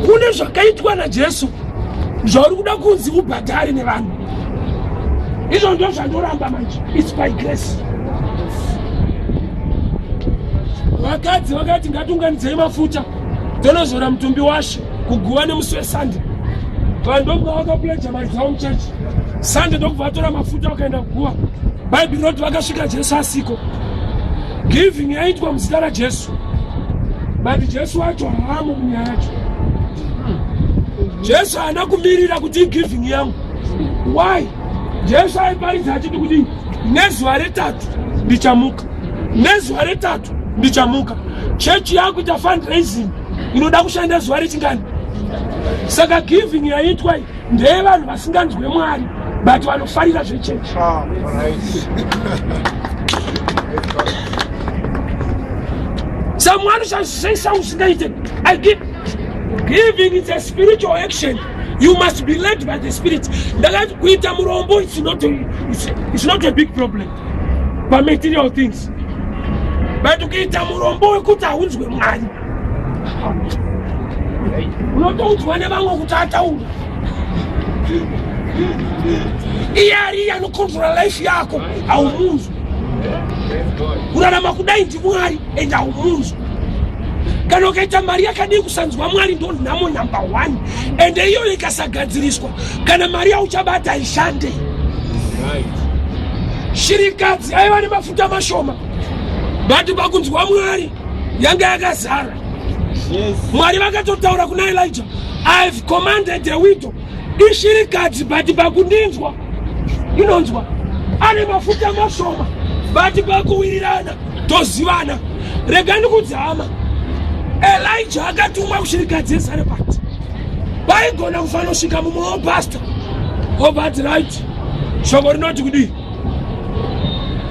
kune zvakaitwa najesu zvauri kuda kunzi ubhadhari nevanhu izvo ndo zvandoramba manje its by grace vakadzi vakati ngatiunganidzei mafuta tonozora mutumbi washe kuguva nemusi wesande vanhu ndokubva vakapleja mari dzavo muchechi sande ndokubva vatora mafuta vakaenda kuguva bhaibheri roti vakasvika jesu asiko giving yaitwa muzita rajesu but jesu wacho haamo munyaya yacho jesu haana kumirira kuti igiving yangu why jesu aiparidza achiti kuti nezuva retatu ndichamuka nezuva retatu ndichamuka chechi yakuita fundraising inoda kushanda zuva rechingani saka giving yaiitwa ndeyevanhu vasinganzwe mwari but vanofarira zvechechi ah, someone shall say something usingaite i give giving is a spiritual action you must be led by the spirit ndakati kuita murombo it's not a, it's, it's not a big problem pamaterial things but ukiita murombo wekuti haunzwe mwari unotoudzwa nevamwe kuti ataura iye ariye anokontrola life yako haumunzwi kurarama kudai ndimwari and haumunzwi kana ukaita mari yakadii kusanzwa mwari ndo nhamo number one and iyoyo ikasagadziriswa kana mari yauchabata haishande shirikadzi aiva nemafuta mashoma but pakunzwa mwari yanga yakazara yes. mwari vakatotaura kuna elija ihave commanded the widow ishirikadzi but pakundinzwa inonzwa ane mafuta mashoma but pakuwirirana tozivana rega ndikudzi hama elija akatumwa kushirikadzi yesarepati vaigona kufanosvika mumwe wopasta obati right shoko rinoti kudii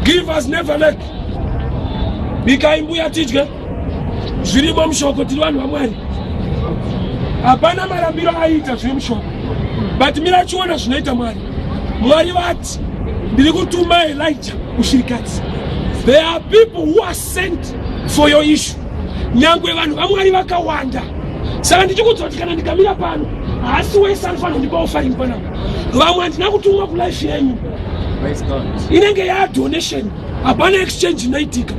give us never make bikai mbuya tidye zvirimo mushoko tiri vanhu vamwari hapana marambiro aiita zviri mushoko but mira chiona zvinoita mwari mwari vati ndiri kutuma elija kushirikadzi there are people who are sent for your issue nyangwe vanhu vamwari vakawanda saka ndichikudzwa kuti kana ndikamira pano haasi wese anofanira kundipawo faringi panapa vamwe handina kutumwa kulife yenyu inenge yadonation hapana exchange inoitika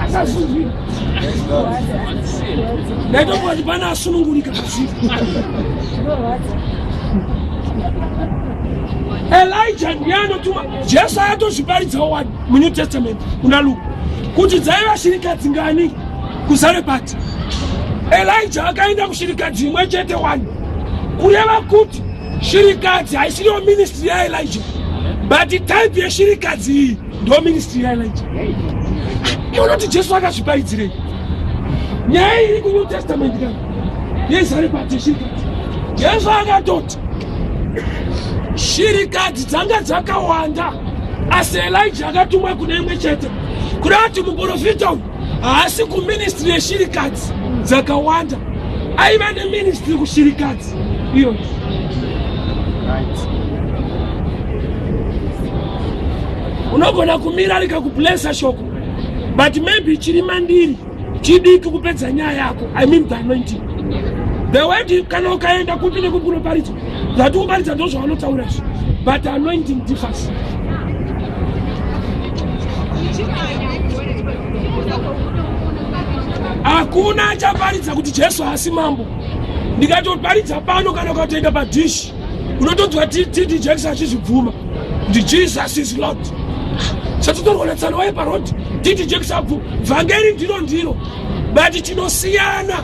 asazuzvi ndaitokuati pana asunungurika kazii elija ndiye anotuma jesu ayatozviparidzawo wani munew testament kuna luka kuti dzaiva shirikadzi ngani kuzare pati First, Elijah akaenda kushirikadzi imwe chete wani kureva kuti shirikadzi haisiriyo ministry yaelijah but type yeshirikadzi iyi ndo ministry yaelijah unoti jesu akazvipaidzirei nyaya iri kunew testament ka yezari pati yeshirikadzi jesu akatoti shirikadzi dzanga dzakawanda asi elijah akatumwa kune imwe chete kureva kuti muporofita uyu haasi kuministry yeshirikadzi dzakawanda aiva neministry kushirikadzi iyo unogona kumira rikakublesa shoko but maybe chiri mandiri chidiki kupedza nyaya yako i mean the anointing the word kana ukaenda kupi nekukunoparidzwa zvatikumbaridza ndozvavanotaura izvo but anointing differs hakuna achaparidza kuti jesu haasi mambo ndikatoparidza pano kana ukatoenda padhishi unotonzwa td jackson achizvibvuma kuti jesus is lord satotorwa natsano waye parodi td jackson abvu vhangeri ndiro ndiro but tinosiyana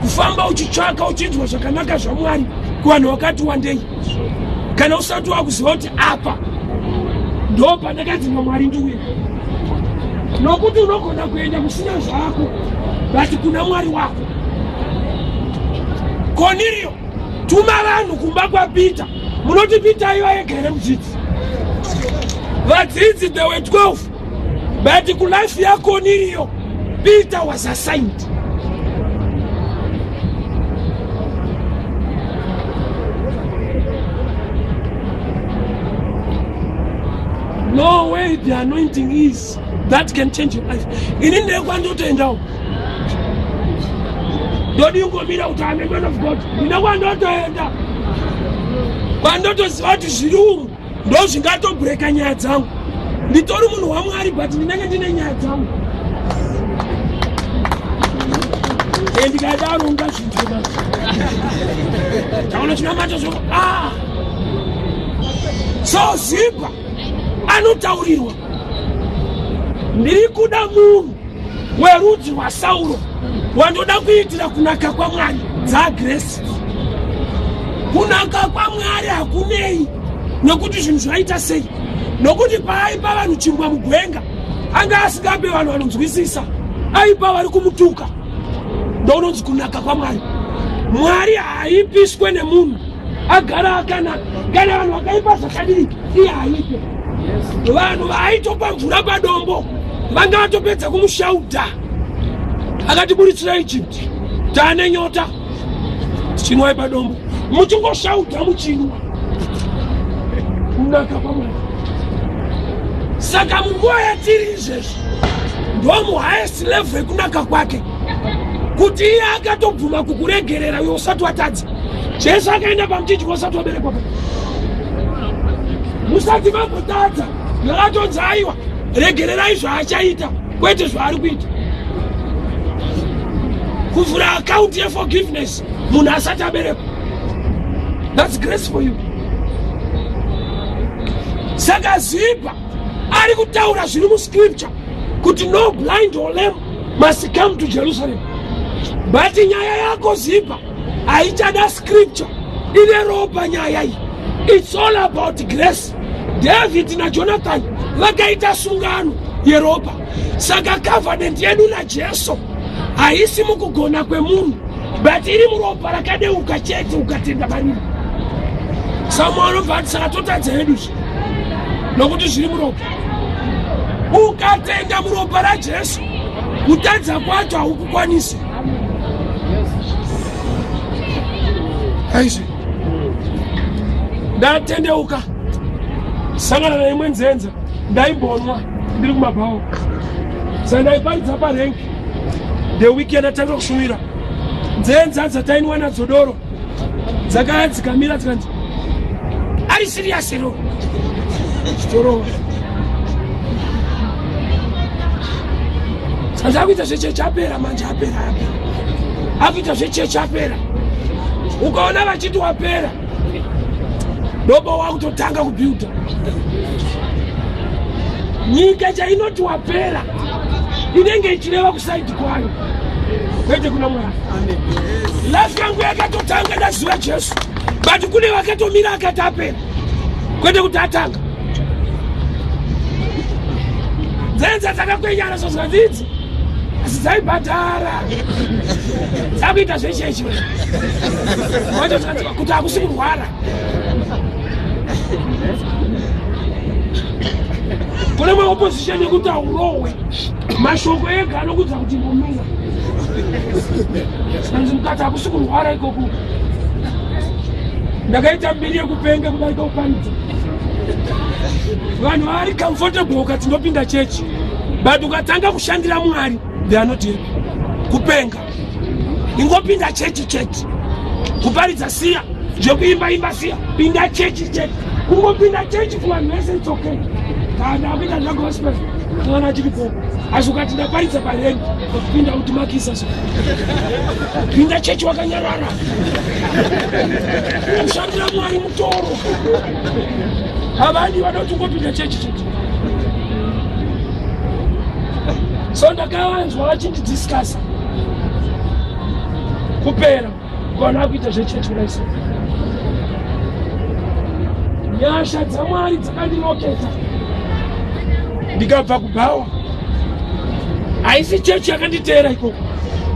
kufamba uchitsvaka uchinzwa zvakanaka zvamwari kuvanhu wakati wandei kana usati wakuziva kuti apa ndo pandakadzinga mwari ndiuye nokuti unogona kuenda kusina zvako vati kuna mwari wako konirio tuma vanhu kumba kwapita munoti pita iva yegere mudzidzi vadzidzi the we 12 but kulife yako niriyo peter was assigned no way the anointing is that can change your life ini ndekwandotoendawo ndodi ungomira kuti ame man of god ine kwandotoenda kwandotoziva kuti zviri umu ndozvingatobreaka nyaya dzangu nditori munhu wamwari but ndinenge ndine nyaya dzangu e ndikadaro ungazvinzwa taona chinamato zvo ah! so zipa anotaurirwa ndiri kuda munhu werudzi rwasauro wandoda kuitira kunaka kwamwari dzagresi kunaka kwamwari hakunei nokuti zvinhu zvaita sei nokuti paaipa vanhu chimbwa mugwenga anga asingape vanhu vanonzwisisa aipa vari kumutuka ndounonzi kunaka kwamwari mwari haipiswe nemunhu agara akanaka kana vanhu vakaipa zvakadii iye aite vanhu vaaitopa mvura padombo vanga vatopedza kumushauda akatiburitsira egypt taane nyota tichinwai padombo muchingoshauda muchinwa kunaka kwamwari saka munguva yatiri izvezvi ndomuhighest level yekunaka kwake kuti iye akatobvuma kukuregerera uyo usati watadza Jesu akaenda pamuchinjiko usati waberekwa musati mambotadza ndakatonzi aiwa regererai zvaachaita kwete zvaari kuita kuvhura akaunti yeforgiveness munhu asati aberekwa thats grace for you saka zipa ari kutaura zviri muscripture kuti no blind or lame must come to jerusalem but nyaya yako zipa haichada scripture ine ropa nyaya iyi its all about grace david najonathan vakaita sungano yeropa saka covenant yedu najesu haisi mukugona kwemunhu but iri muropa rakadeuka chete ukatenda mariri samwe anobva ati saka totadza hedu zvi nokuti zviri muropa ukatenda muropa rajesu kutadza kwacho haukukwanisi aizvi ndatendeuka sangana naimwe nzenza ndaibonwa ndiri kumabhawo saka ndaiparidza parengi the weekend atanga kushumira nzenza dzatainwa nadzo doro dzakaya dzikamira dzikanzi ari siriyasi ro chitorova saka akuita zvechechi apera manje apera apera akuita zvechechi apera ukaona vachiti wapera ndobo wakutotanga kubuilda nyika chainoti wapera inenge ichireva kusaidi kwayo kwete kuna mwari life yangu yakatotanga ndaziva jesu but kune vakatomira akati apera kwete kuti atanga dzenza dzakakwenyana zvozvadzidzi asi dzaibhadhara dzakuita zvechechi watozvadziva kuti hakusi kurwara kune maopposition yekuti haurohwe mashoko ega anokudza kuti mbomira anzi mukati hakusi kurwara ikoku ndakaita mbiri yekupenga kudarika kuparidza vanhu vaari comfortable ukati ndopinda chechi but ukatanga kushandira mwari they are not here kupenga ingopinda chechi chechi kuparidza siya zvekuimba imba siya pinda chechi chechi kungopinda chechi kuvanhu vese its okay kana kuita zvagospel kana achiri po asi ukati ndaparidza pareni kupinda kuti makisa so pinda chechi wakanyarara kushandira mwari mutoro havadi vanoti ungopinda chechi chechi so ndakavanzwa vachindidiscasa kupera kuvanhu vakuita zvechechi kudaiso nyasha dzamwari dzakandiroketa ndikabva kubhawa haisi chechi yakanditeera ikoko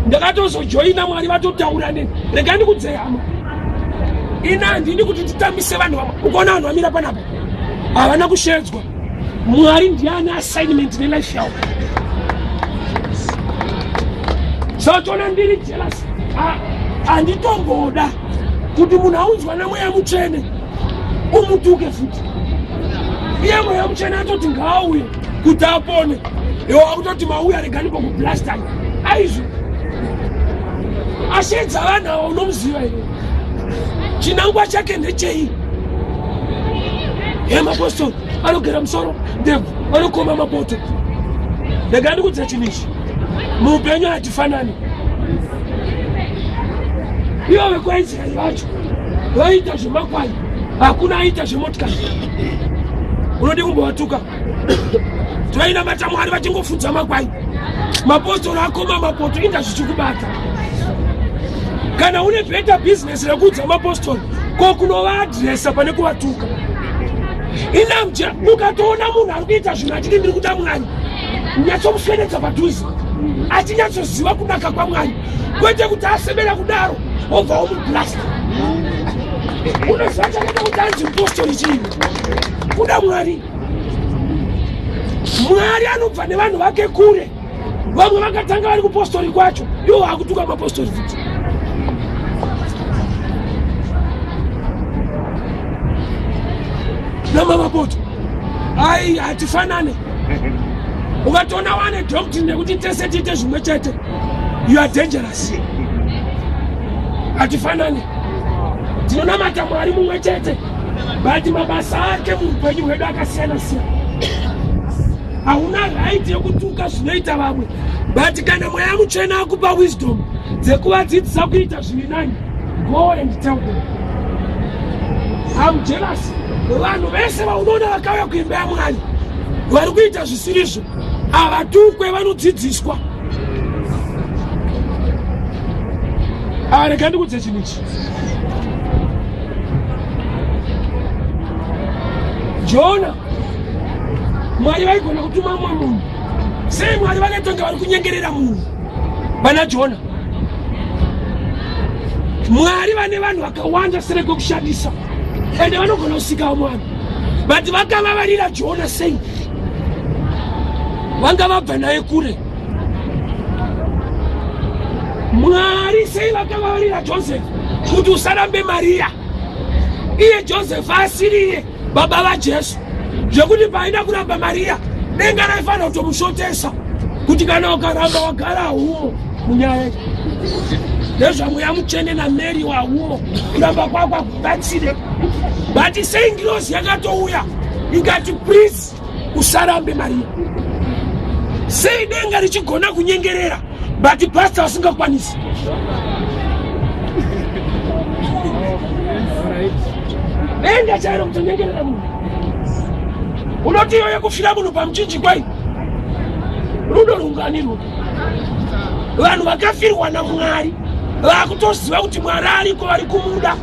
ndakatozojoina mwari vatotaura neni rega ndikudzeyama ini handini kuti titambise vanhu vama ukaona vanhu vamira panapa havana kushedzwa Mwari ndiye ane assignment nelife yavo so toona ndiri jealous handitomboda kuti munhu aunzwa namweya mutsvene umutuke futi iye mweya mutsvene atoti ngaauye kuti apone iwo akutoti mauya regani pakublastana aizvo asheedza vanhu awa unomuziva iwe chinangwa chake ndechei hemapostol anogera musoro ndebvu anokoma mapoto ndega ndikudzira chinhu ichi muupenyu hatifanani ivo vekwaisraeri vacho vaiita zvemakwai hakuna aita zvemotikari unodi kumbovatuka toinamata mwari vachingofunza makwai mapostori akoma mapoto inga zvichikubata kana une better business rekuudza mapostori ko kunovaadresa pane kuvatuka inamje ukatoona munhu ari kuita zvinhu achiti ndiri kuda mwari nyatsomuswededza padhuze achinyatsoziva kunaka kwamwari kwete kuti asemera kudaro obva womublasta unoziva chakata kuti anzi mpostori chii kuda mwari mwari anobva nevanhu vake kure vamwe vakatanga vari kupostori kwacho iwo vakutuka mapostori futi namamapoto ai hatifanane ukatoona wane doctrine nekuti tese tiite zvimwe chete you are dangerous hatifanane tinonamata mwari mumwe chete but mabasa ake muupenyu hwedu akasiyana siyana hauna right yekutuka zvinoita vamwe but kana mweya mutsvena akupa wisdom dzekuvadzidzisa kuita zviri nani go and tell them am jealous vanhu vese vaunoona vakauya kuimba yamwari vari kuita zvisirizvo havatukwe vanodzidziswa arega ndikudze chinhu ichi jona mwari vaigona kutuma mumwe munhu sei mwari vakatonge vari kunyengerera munhu vana jona mwari vane vanhu vakawanda sere kwekushandisa ende vanogona kusikawo mwana vati vakavavarira jona sei vanga vabva naye kure Mwari sei vakavavarira Joseph kuti usarambe Maria iye Joseph asiriye baba vaJesu zvekuti paaida kuramba Maria denga raifanira kutomusvotesa kuti kana ukaramba wagara humo munyaya nezvamweya mutsvene namary wahumo kuramba kwakwa kubatsire but sei ngirozi yakatouya ikati please usarambe mari sei denga richigona kunyengerera but pasta vasingakwanisi denga chairo kutonyengerera munhu unoti iyoyo kufira munhu pamuchinji kwai rudo rungani rudo vanhu vakafirwa namwari vakutoziva kuti mwari ariko vari kumuda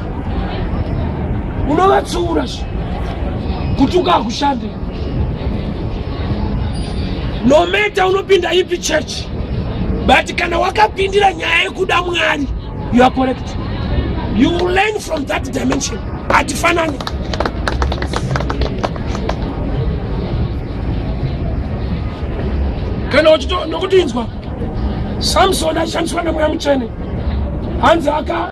unovatsiura zve kuti ukakushande nometa unopinda ipi chechi but kana wakapindira nyaya yekuda mwari You are correct. You learn from that dimension. Atifanani. Kana uchito nokutinzwa Samson ashandiswa nemweya mutsvene hanzi aka